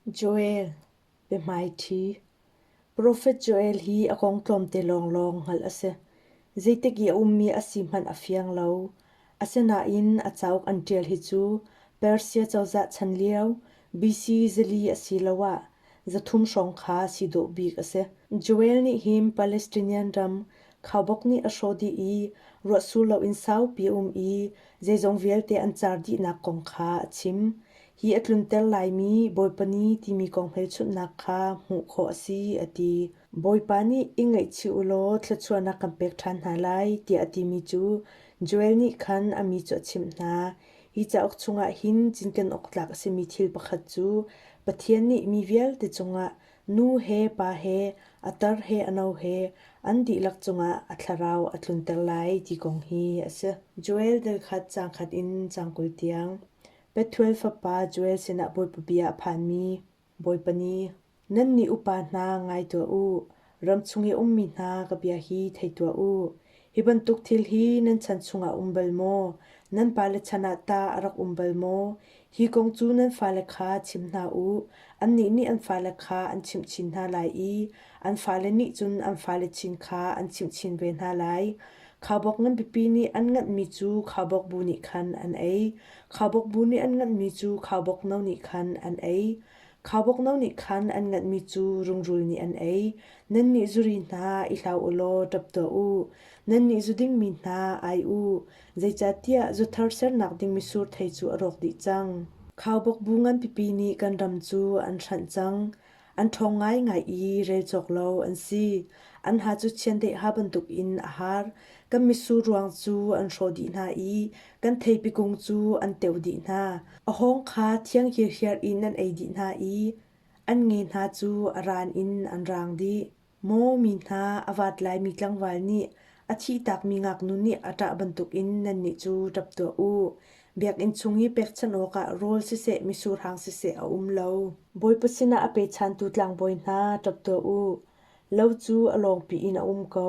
Joel, biahmaiṭhi. Profet Joel hi a kong tlawmte lawnglawng hngalh a si. Zeitik i a ummi a si hmanh a fiang lo. Asinain a cauk an ṭial hi cu Persia cozah chan lio BC zili asiloah zathum hrawng kha si dawh bik a si. Joel nih hin Palestinian ram khaubawk nih a hrawh dih i ruahsur loin saupi a um i zeizong vialte an car dihnak kong kha a chim. Hi a tlunter laimi Bawipa ni timi kong hmelchunhnak kha hmuh khawh a si a ti. Bawipa nih i ngaihchih u law thluachuahnak kan pek ṭhan hna lai tiah a timi cu Joel nih khan a mi cu a chimh hna. Hi cauk chungah hin cinken awk tlak a simi thil pakhat cu Pathian nih mi vialte cungah nu he pa he a tar he a no he an dihlak cungah a thlarau a tlunter lai ti kong hi a si. Joel delkhat cangkhat in cang kul tiang. Bethuel fapa Joel sinah bawipabi ah a phanmi Bawipa ni, nannih upa hna ngai tuah u. Ram chung i a ummi hna ka bia hi thei tuah u. Hi bantuk thil hi nan chan chungah um bal maw? Nan pale chan ah tah a rak um bal maw? Hi kong cu nan fale kha chim hna u. Annih nih an fale kha an chimh chin hna lai i an fale nih cun an fale chin kha an chimh chin ve hna lai. Khaubawk nganpipi nih an nganhmi cu khaubawk bu nih khan an ei. Khaubawk bu nih an nganhmi cu khaubawk no nih khan an ei. Khaubawk no nih khan an nganhmi cu rungrul nih an ei. Nannih zuri hna i hlau u law ṭap tuah u. Nannih zu dingmi hna ai u, zeicahtiah zuthar sernak ding mitsur thei cu a rawk dih cang. Khaubawk bu nganpipi nih kan ram cu an hranh cang. An ṭhawng ngaingai i rel cawk lo an si. An ha cu chiandeha bantukin a har. Kan mitsur ruang cu an hrawh dih hna i kan theipi kung cu an teo dih hna. A hawng kha thiang hirhiar in an ei dih hna i an nge hna cu a ran in an raang dih. Maw mi hna, a vaat laimi tlangval nih a thihtakmi ngaknu nih a ṭah bantukin nannih cu ṭap tuah u. Biakinn chung i pekchanh awkah rawl siseh misuhrang siseh a um lo. Bawipa sinah a pechantu tlangbawi hna ṭap tuah u. Lo cu a lawngpi in a um ko.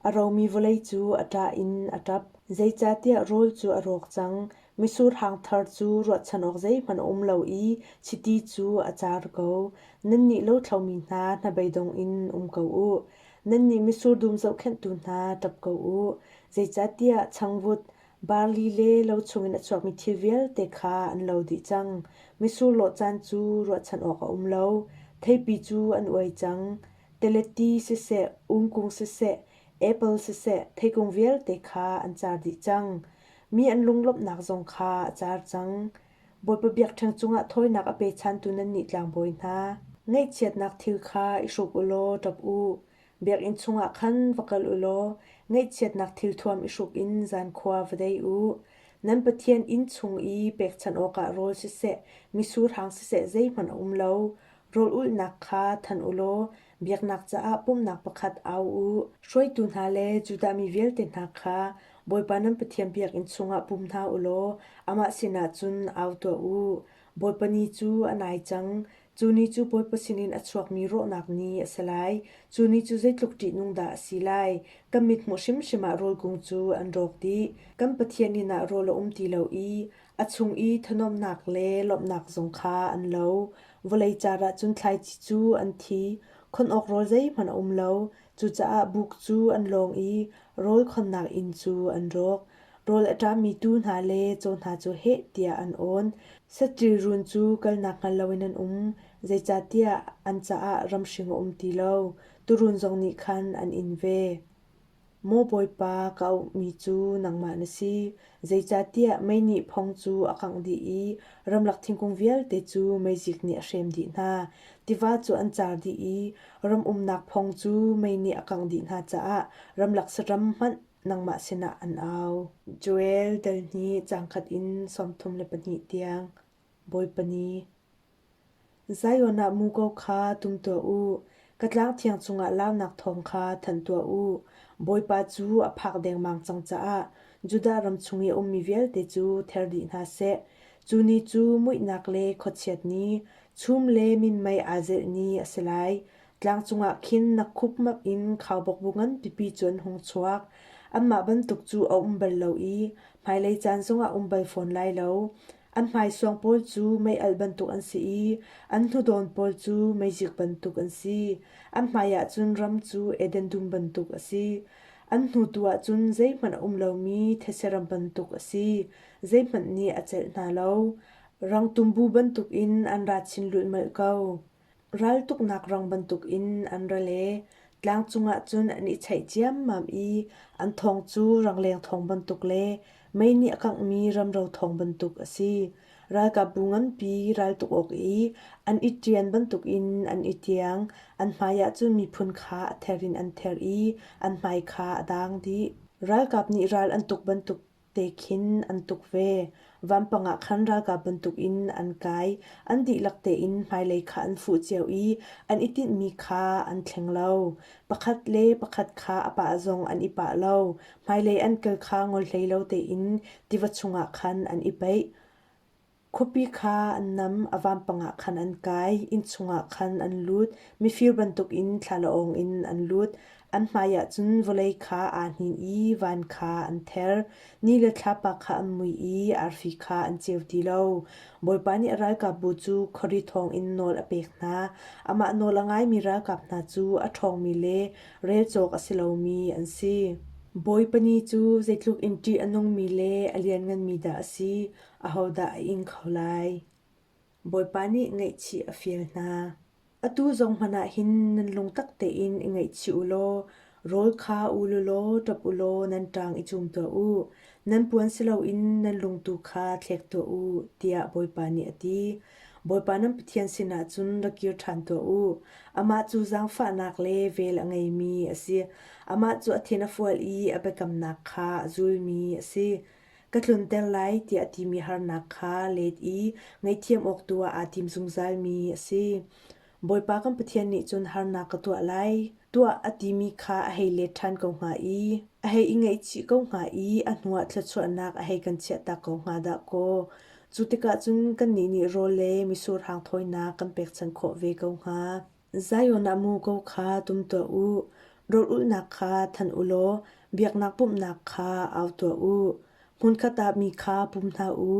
A romi vawlei cu a ṭah in a ṭap, zeicahtiah rawl cu a rawk cang. Misurhang thar cu ruahchan awk zeihmanh a um lo i chiti cu a car ko. Nannih lothlomi hna hnabeidong in um ko u. Nannih misur dum zohkhenhtu hna ṭap ko u, zeicahtiah changvut, barli le lo chungin a chuakmi thil vialte kha an lo dih cang. Misur lawh caan cu ruahchan awk a um lo, theipi cu an uai cang. teleti siseh, ungkung siseh, apple siseh theikung vialte kha an car dih cang. Mi an lunglawmhnak zong kha a car cang. Bawipa biakṭheng cungah thawinak a pechantu nannih tlangbawi hna, ngaihchiatnak thil kha i hruk u law ṭap u. Biakinn chungah khan va kal u law ngaihchiatnak thil thuam i hruk in zankhua va dei u. Nan Pathian inn chung i pekchanh awkah rawl siseh, misur hang siseh zeihmanh a um lo. Rawlulhnak kha thanh u law biaknak caah pumhnak pakhat au u. Hruaitu hna le Judah mi vialte hna kha Bawipa nan Pathian biakinn chungah pum hna u law amah sinah cun au tuah u. Bawipa ni cu a nai cang. Cu ni cu Bawipa sinin a chuakmi rawhnak ni a si lai. Cu ni cu zeitluk ṭihnung dah a si lai! Kan mithmuh hrimhrim ah rawl kung cu an rawk dih. Kan Pathian inn ah rawl a um ti lo i A chung i thunuamhnak le lawmhnak zong kha an lo. Vawlei car ah cun thlaici cu an thi. Khon awk rawl zeihmanh a um lo. Cucaah buk cu an lawng i rawl khonnak inn cu an rawk. Rawl a ṭami tuu hna le caw hna cu heh tiah an awn. Saṭil run cu kalnak hngal loin an um, zeicahtiah an caah ramhring a um ti lo. Turun zong nih khan an in ve. Maw Bawipa, ka auhmi cu nangmah na si, zeicahtiah mei nih phong cu a kangh dih i ramlak thingkung vialte cu meizik nih a hrem dih hna. Tiva cu an car dih i ram umnak phong cu mei nih a kangh dih hna caah ramlak saram hmanh nangmah sinah an au. Joel dal hnih cangkhat in sawmthum le pahnih tiang. Bawipa ni. Zion ah muko kha tum tuah u, ka tlangthiang cungah launak thawng kha thanh tuah u. Bawipa cu a phak dengmang cang caah Judah ram chung i a ummi vialte cu ther dih hna seh. Cu ni cu muihnak le khuachiat ni, chum le minmei aa zelh ni a si lai. Tlang cungah khin nakkhupmap in khaubawkbu nganpipi cu an hung chuak. Anmah bantuk cu a um bal lo i hmailei caan zongah um bal fawn lai lo. An hmaisuang pawl cu meialh bantuk an si i an hnudawn pawl cu meizik bantuk an si. An hmaiah cun ram cu Eden dum bantuk a si. An hnutu ah cun zeihmanh a um lomi thesheram bantuk a si, zeihmanh nih a celh hna lo. Rang tumbu bantukin an ra chin lulhmalh ko. Raltuknak rang bantukin an ra le tlang cungah cun an i cheih ciammam i an thawng cu rangleng thawng bantuk le mei nih a kanghmi ramro thawng bantuk a si. Ralkapbu nganpi raltuk awk i an i ṭian bantukin an i tiang. An hmaiah cun miphun kha a ther in an ther i an hmai kha a dang dih. Ralkap nih ral an tuk bantuk te khin an tuk ve. Vampang ah khan ralkap bantukin an kai. An dihlak tein hmailei kha an fuh cio i an i tinhmi kha an thleng lo. Pakhat le pakhat kha a pah zong an i pah lo. Hmailei an kal kha ngol hlei lo tein tiva chungah khan an i peih. Khuapi kha an nam, a vampang ah khan an kai, inn chungah khan an lut, mifir bantukin thlalaawng in an lut. An hmaiah cun vawlei kha aa hnin i van kha an ther, ni le thlapa kha an mui i arfi kha an ceu ti lo. Bawipa nih ralkapbu cu khawri thawngin nawl a pek hna. Amah nawl a ngaimi ralkap hna cu a ṭhawngmi le rel cawk a si lomi an si. Bawipa ni cu zeitluk in ṭih a nungmi le a liannganmi dah a si! Ahodah a ing kho lai? Bawipa nih ngaihchih a fial hna. Atu zong hmanh ah hin nan lungtak tein i ngaihchih u law rawl kha u law ṭap u law nan ṭang i cum tuah u. Nan puan si loin nan lungtu kha thlek tuah u, tiah Bawipa nih a ti. Bawipa nan Pathian sinah cun ra kir ṭhan tuah u. Amah cu zaangfahnak le vel a ngeimi a si. Amah cu a thin a fual i a biakamnak kha a zulmi a si. Ka tlunter lai tiah timi harnak kha let i ngaihthiam awk tu ah aa tim zungzalmi a si. Bawipa kan Pathian nih cun harnak ka tuah lai tuah a timi kha a hei let ṭhan ko hnga i a hei i ngaihchih ko hnga i a hnuah thluachuahnak a hei kan chiahtak ko hnga dah kaw. Cu tikah cun kannih nih rawl le misur hang thawinak kan pekchanh khawh ve ko hnga. Zion ah muko kha tum tuah u. Rawlulhnak kha thanh u law biaknak pumhnak kha au tuah u. Hmunkhat ah mi kha pum hna u.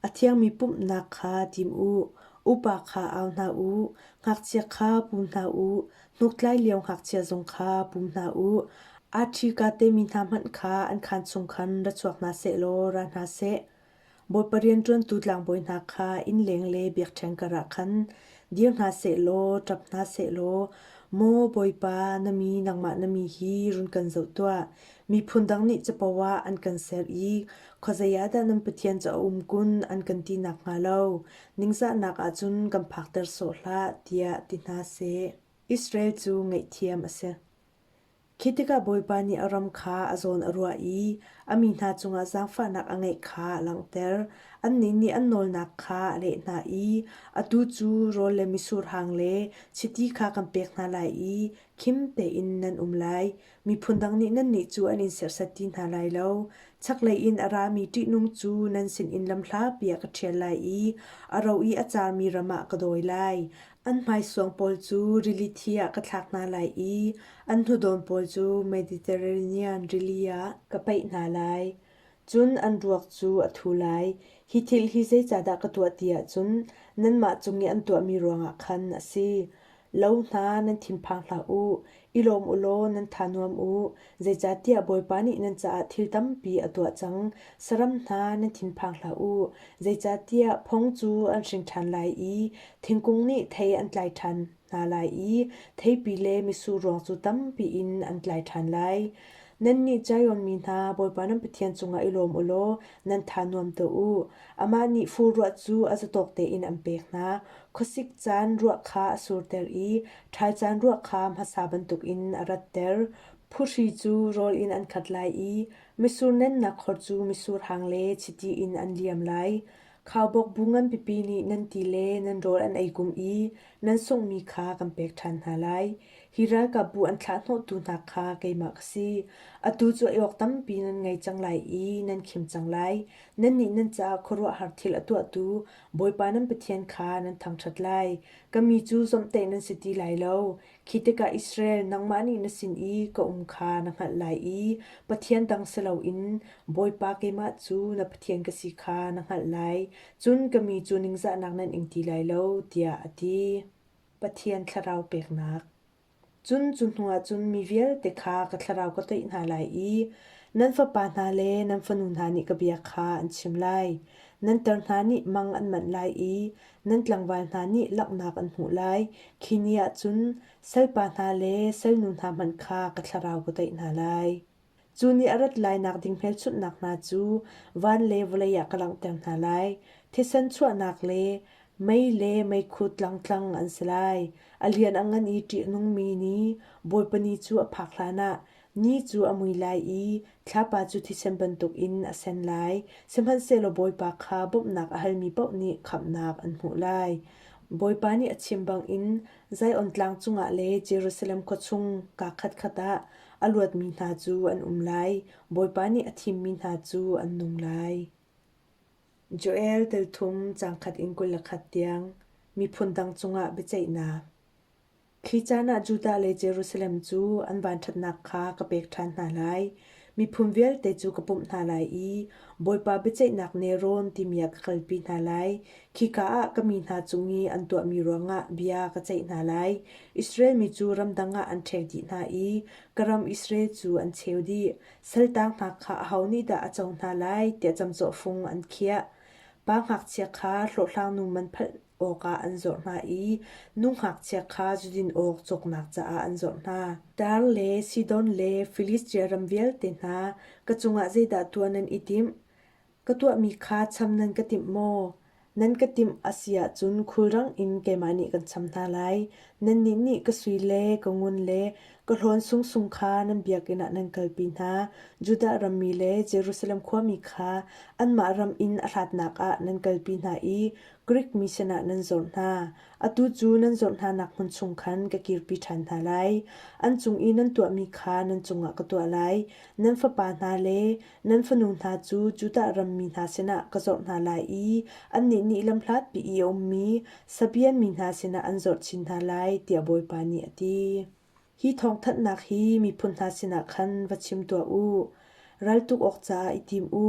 A thiangmi pumhnak kha tim u. Upa kha au hna u. Ngakchia kha pum hna u. Hnuktlai lio ngakchia zong kha pum hna u. Arthi ka temi hna hmanh kha an khaan chung khan ra chuak hna seh law ra hna seh. Bawipa rianṭuantu tlangbawi hna kha innleng le biakṭheng karah khan dir hna seh law ṭap hna seh law, Maw Bawipa, na mi nangmah na mi hi run kan zoh tuah. Miphun dang nih capo ah an kan ser i khuazei ah dah nan pathian cu a um kun an kan ti nakhnga lo ningzahnak ah cun kan phakter sawh hlah, tiah ti hna seh. Israel cu ngaihthiam a si. Khi tikah Bawipa nih a ram kha a zawn a ruah i a mi hna cungah zaangfahnak a ngeih kha a langhter. Annih nih an nawlnak kha a leh hna i atu cu rawl le misurhang le chiti kha kan pek hna lai i khim tein nan um lai. Miphun dang nih nannih cu an in serhsat ti hna lai lo. Chaklei in a rami ṭihnung cu nan sinin lam hlapi ah ka ṭhial lai i a ro i a cangmi ram ah ka dawi lai. An hmaisuang pawl cu rili thi ah ka thlak hna lai i an hnudawm pawl cu Mediterranean rili ah ka paih hna lai. Cun an ruak cu a thu lai. Hi thil hi zeicahdah ka tuah ti ahcun nanmah cung i an tuahmi ruangah khan a si. Lo hna, nan thinphang hlah u. I lawm u law nan tha nuam u, zeicahtiah Bawipa nih nan caah thil tampi a tuah cang. Saram hna nan thinphang hlah u, zeicahtiah phung cu an hring ṭhan lai i thingkung nih thei an tlai ṭhan hna lai i theipi le misur ruang cu tampi in an tlai ṭhan lai. Nannih Zion mi hna, Bawipa nan Pathian cungah i lawm u law nan tha nuam tuah u. Amah nih fur ruah cu a zatawk tein an pek hna. Khuasik caan ruah kha a surter i Thaicaan ruah kha hmasa bantukin a ratter. Phuhri cu rawl in an khat lai i misur nennak khor cu misur hang le chiti in an liam lai. Khaubawk bu nganpipi nih nan ti le nan rawl an ei kum i nan sunghmi kha kan pek ṭhan hna lai. Hi ralkapbu an thlahhnawhtu hna kha keimah ka si. Atu cu ei awk tampi nan ngei cang lai i nan khim cang lai. Nannih nan caah khuaruahhar thil a tuahtu Bawipa nan Pathian kha nan thangṭhat lai. Ka mi cu zomhtaih nan si ti lai lo. Khi tikah Israel, nangmah nih na sin i ka um kha na hngalh lai i pathian dang si loin Bawipa keimah cu na Pathian ka si kha na hngalh lai. Cun ka mi cu ningzahnak nan ing ti lai lo, tiah a ti. Pathian thlarau peknak Cun cu hnuah cun mi vialte kha ka thlarau ka toih hna lai i nan fapa hna le nan fanu hna nih ka bia kha an chim lai. Nan tar hna nih mang an manh lai i nan tlangval hna nih langhnak an hmuh lai. Khi ni ah cun salpa hna le salnu hna hmanh kha ka thlarau ka toih hna lai. Cu nih a rat lainak ding hmelchunhnak hna cu van le vawlei ah ka langhter hna lai. Thisen chuahnak le mei le meikhu tlangtlang an si lai. A lian a ngan i ṭih a nungmi ni, Bawipa ni cu a phak hlanah ni cu a mui lai i thlapa cu thisen bantukin a sen lai. Sihmanhsehlaw Bawipa kha bawmhnak a halmi paoh nih khamhnak an hmuh lai. Bawipa nih a chim bangin Zion tlang cungah le Jerusalem khua chung kaa khatkhat ah a luatmi hna cu an um lai; Bawipa nih a thimmi hna cu an nung lai. Joel tel thum cangkhat in kul le khat tiang miphun dang cungah biaceihnak. Khi caan ah Judah le Jerusalem cu an vanṭhatnak kha ka pek ṭhan hna lai. Miphun vialte cu ka pumh hna lai i Bawipa biaceihnak Neron timi ah ka kalpi hna lai. Khika ah ka mi hna cung i an tuahmi ruangah bia ka ceih hna lai. Israel mi cu ramdang ah an ṭhek dih hna i ka ram Israel cu an cheu dih. Saltang hna kha aho nih dah a co hna lai tiah camcawhfung an khiah. Pa ngakchia kha hlawhhlangnu man awkah an zorh hna i nungngakchia kha zudin awk cawknak caah an zorh hna. Tar le Sidon le Filistia ram vialte hna, ka cungah zeidah tuah nan i timh? Ka tuahmi kha cham nan ka timh maw? Nan ka timh a si ahcun khulrang in keimah nih kan cham hna lai. Nannih nih ka sui le ka ngun le ka hlawn sungsung kha nan biakinn ah nan kalpi hna. Judah rammi le Jerusalem khuami kha anmah ram in a hlatnak ah nan kalpi hna i Grik mi sinah nan zawr hna. Atu cu nan zawr hnanak hmun chung khan ka kirpi ṭhan hna lai. An cung i nan tuahmi kha nan cungah ka tuah lai. Nan fapa hna le nan fanu hna cu Judah ram mi hna sinah ka zawr hna lai i annih nih lam hlatpi i a ummi Sabean mi hna sinah an zawr chin hna lai, tiah Bawipa nih a ti. Hi thawngthanhnak hi miphun hna sinah khan va chim tuah u. Ral tuk awk caah i tim u.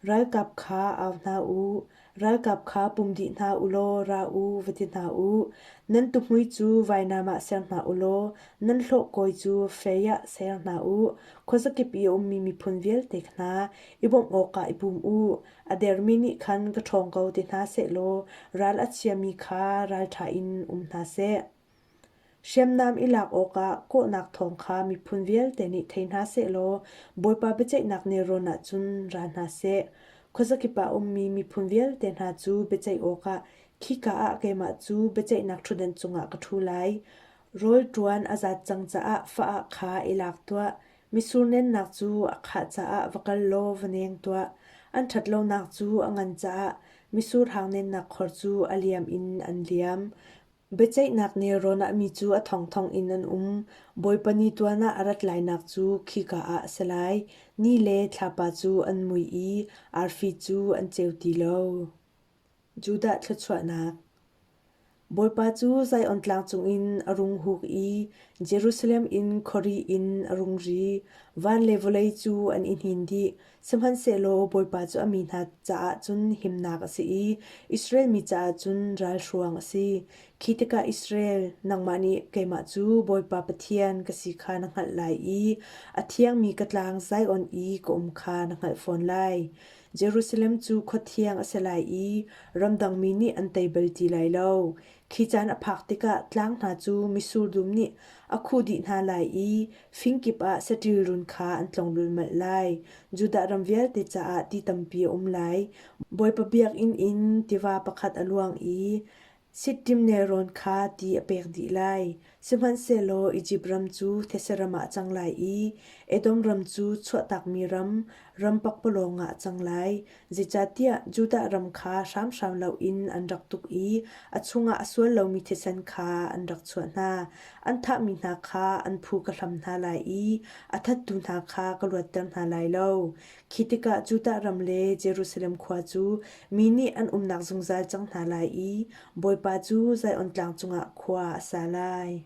Ralkap kha au hna u. Ralkap kha pum dih hna u law ra u, va ti hna u. Nan tuhmui cu vainam ah ser hna u law nan hlawhkawi cu fei ah ser hna u. Khuazakip i a ummi miphun vialte hna i bawmh awkah i pum u. A dermi nih khan ka ṭhawng ko ti hna sehlaw ral a chiami kha ralṭha in um hna seh. Hriamnam i lak awkah kawhnak thawng kha miphun vialte nih thei hna sehlaw Bawipa biaceihnak nelrawn ahcun ra hna seh. Khuazakip ah a ummi miphun vialte hna cu biaceih awkah khika ah keimah cu biaceihnak ṭhutdan cungah ka ṭhu lai. Rawl ṭuan a zat cang caah fa-ah kha i lak tuah. Misur nennak cu a khah caah va kal law va neng tuah. An ṭhat lonak cu a ngan caah misur hang nennak khor cu a liam in an liam. Biaceihnak nelrawn ah mi cu a thongthong in an um. Bawipa ni tuan ah a rat lainak cu khika ah a si lai. Ni le thlapa cu an mui i arfi cu an ceu ti lo. Judah thluachuahnak Bawipa cu Zion tlang cungin a rung huk i Jerusalem in khuari in a rung ri. Van le vawlei cu an i hnin dih. Sihmanhsehlaw Bawipa cu a mi hna caah cun himnak a si i Israel mi caah cun ralhruang a si. Khi tikah Israel, nangmah nih keimah cu Bawipa Pathian ka si kha na hngalh lai i a thiangmi ka tlang Zion i ka um kha na hngalh fawn lai. Jerusalem cu khua thiang a si lai i ramdang mi nih an tei bal ti lai lo. Khi caan a phak tikah tlang hna cu misur dum nih a khuh dih hna lai i fing kip ah saṭil run kha an tlong lulmalh lai. Judah ram vialte caah ti tampi a um lai. Bawipa biakinn in tiva pakhat a luang i sittim nelrawn kha ti a pek dih lai. Sihmanhsehlaw Izipt ram cu Theseram ah a cang lai i Edom ram cu chuahtakmi ram, ram pakpalawng ah a cang lai, zeicahtiah Judah ram kha hramhram loin an rak tuk i a chungah a sual lomi thisen kha an rak chuah hna. An thahmi hna kha an phu ka hlam hna lai i a thattu hna kha ka luatter hna lai lo. Khi tikah Judah ram le Jerusalem khua cu mi nih an umnak zungzal cang hna lai i Bawipa cu Zion tlang cungah khua a sa lai.